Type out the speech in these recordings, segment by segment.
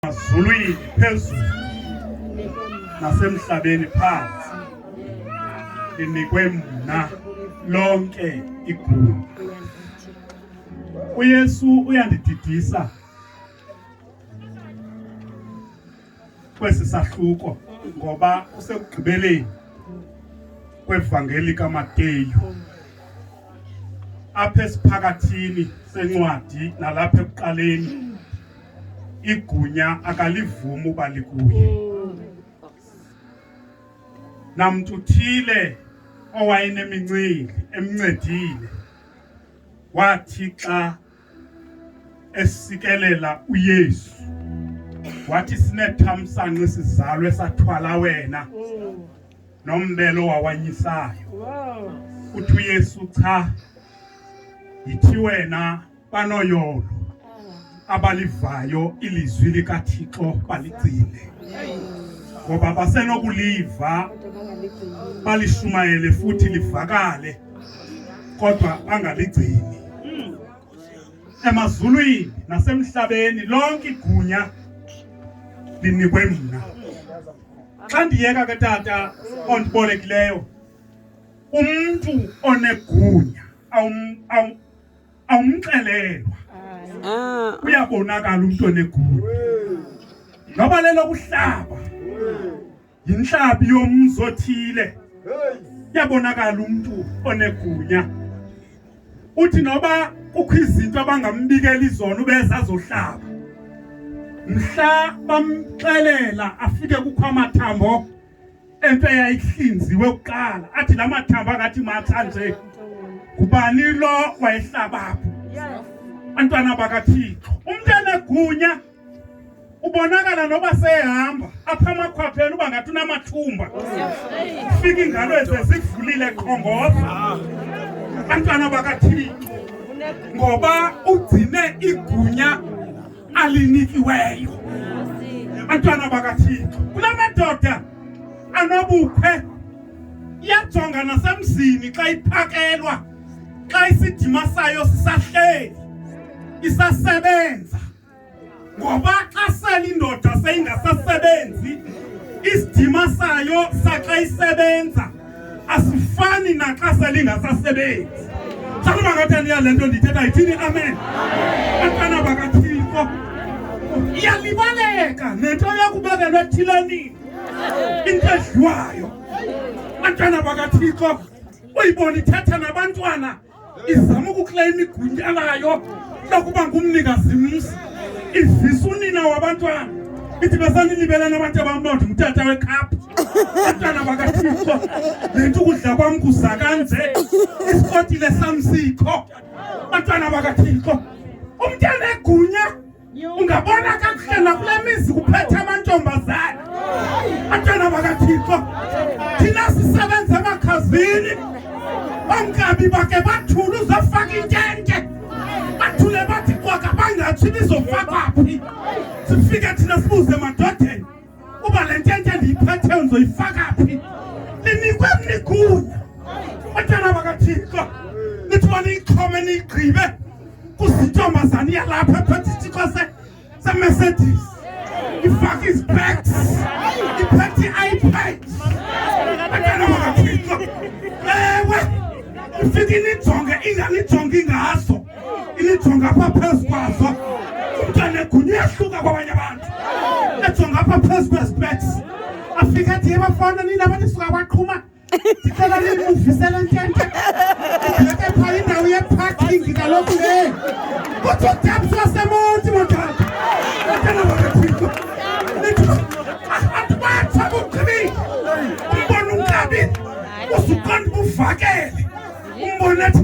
emazulwini phezulu nasemhlabeni phansi linikwe mna lonke igunya uyesu uyandididisa kwesi sahluko ngoba usekugqibeleni kwevangeli kamateyu apha esiphakathini sencwadi nalapha ekuqaleni igunya akalivumi uba likuye. Namntu uthile owayenemincili emncedile wathi xa esikelela uYesu wathi sinethamsanqa esizalwe sathwala wena nombelo wawanyisayo uthi uYesu cha yithi wena banoyolo abalivayo ilizwi likaThixo baligcine ngoba basenokuliva balishumayele futhi livakale kodwa bangaligcini emazulwini nasemhlabeni lonke igunya linikwe mna xa ndiyeka ke tata ondibolekileyo umntu onegunya awumxelelwa ah. uyabonakala umntu onegulo ngaba lelo kuhlaba yinhlabi yomzi othile yabonakala umntu onegunya uthi noba kukho izinto abangambikela izona ubeza azohlaba mhla bamxelela afike kukho amathambo Into eyayihlinziwe kuqala athi la mathambo angathi matha nje. Kubani lo wayehlaba apho? Bantwana bakaThixo. Umuntu enegunya ubonakala noba sehamba apha amakhwapheni uba ngathi unamathumba fika ingalo ezezivulile qhongoza bantwana bakathixo ngoba ugcine igunya alinikiweyo bantwana bakathixo kula madoda anobukhwe iyajonga nasemzini xa iphakelwa xa isidima sayo sisahleli isasebenza ngoba xa sele indoda seyingasasebenzi isidima sayo saxa isebenza asifani naxa selingasasebenzi sakuba ngathi aniya le nto ndithetha yithini amen abantwana bakathixo iyalibaleka nento yokubekelwa ethilenini into edliwayo abantwana bakathixo uyibona ithetha nabantwana izama ukukleyima igunya layo lokuba ngumnikazi mzi ivisa unina wabantwana ithi besaninibelana abantu abamnonde ngutata wekhaphu abantwana bakathixo le nto ukudla kwam kuza kanje isikotile sam sikho abantwana bakathixo umntana egunya Ungabona kakuhle nakule mizi kuphethe amantombazana abantwana bakaThixo. Thina sisebenza emakhazini onkabi bake bathule uzofaka intente bathule bathi kwaka bangatshi bizofakwa phi sifike thina sibuze madodeni uba le ntente ndiyiphetheyo ndizoyifaka phi linikwe mnigunya otyana bakathixo nithi uba niyixhome niyigqibe kuzintombazana iyalapha ephethe isitixo semercedes ifake izibeks iphethe i-ipad otyana bakathixo ewe ifike inijonge inganijongi ngaso ijonga apha phezu kwazo umntwana egunya uyahluka kwabanye abantu ejonga apha phezu kwezipets afike athi yebafana nina abanisuka kwaqhuma ndicela nimuvisele ntente ndileke phaa indawo yeparking kaloku le kuthi udeps wasemonti motata atana babekhwiko atibakho bugqibi umbona umkabi usuqonda ubuvakele umbona athi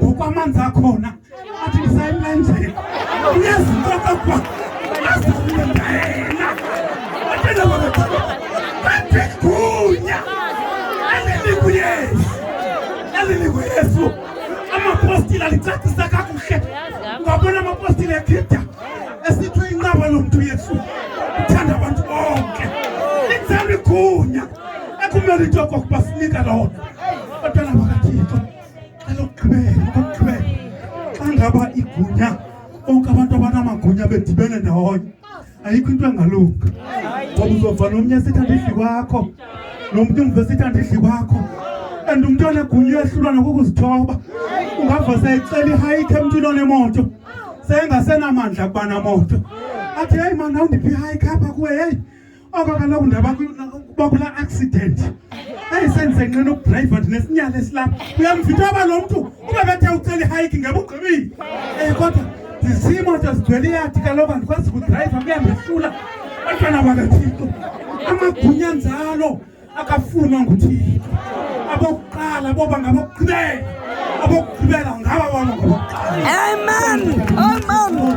ukwamanzi akhona athi ndisayimlenzela uyazitoka kwa azile ndayena atenda bakataba batigunya alinikhu yesu alinikhu yesu amapostile alicacisa kakuhle ngabona amapostile ekhida esithi uyinqaba lo mntu yesu uthanda abantu bonke lenzela igunya ekumele into yokokuba sinika lona elokugqibela okokugqibela xa ngaba igunya bonke abantu abanamagunya bedibene ndawonye ayikho into engalunga ngoba uzova nomnye esithi andidli kwakho nomntu umva esithi andidli kwakho and umntu onegunya uyehlulwa nokukuzithoba ungava seyicela ihayikhe emntwini onemoto seyengasenamandla kuba namoto athi heyi mani awundiphi ihayikhe apha kuwe heyi oko kaloku ndaba bakulaa accident eyi sendize nqina ukudrayiva ndinesinyala esilapha uyamvitha aba lo mntu uba bethe ucela ihayiki ngeba ugqibile um kodwa ndizimoto zigcwele iyadi kaloku andikwazi kudrayiva kuyandehlula bantwana bakathixo amagunya njalo akafunwa nguthixo abokuqala boba ngabokugqibela abokugqibela ngaba baba ngabokuqala amen amen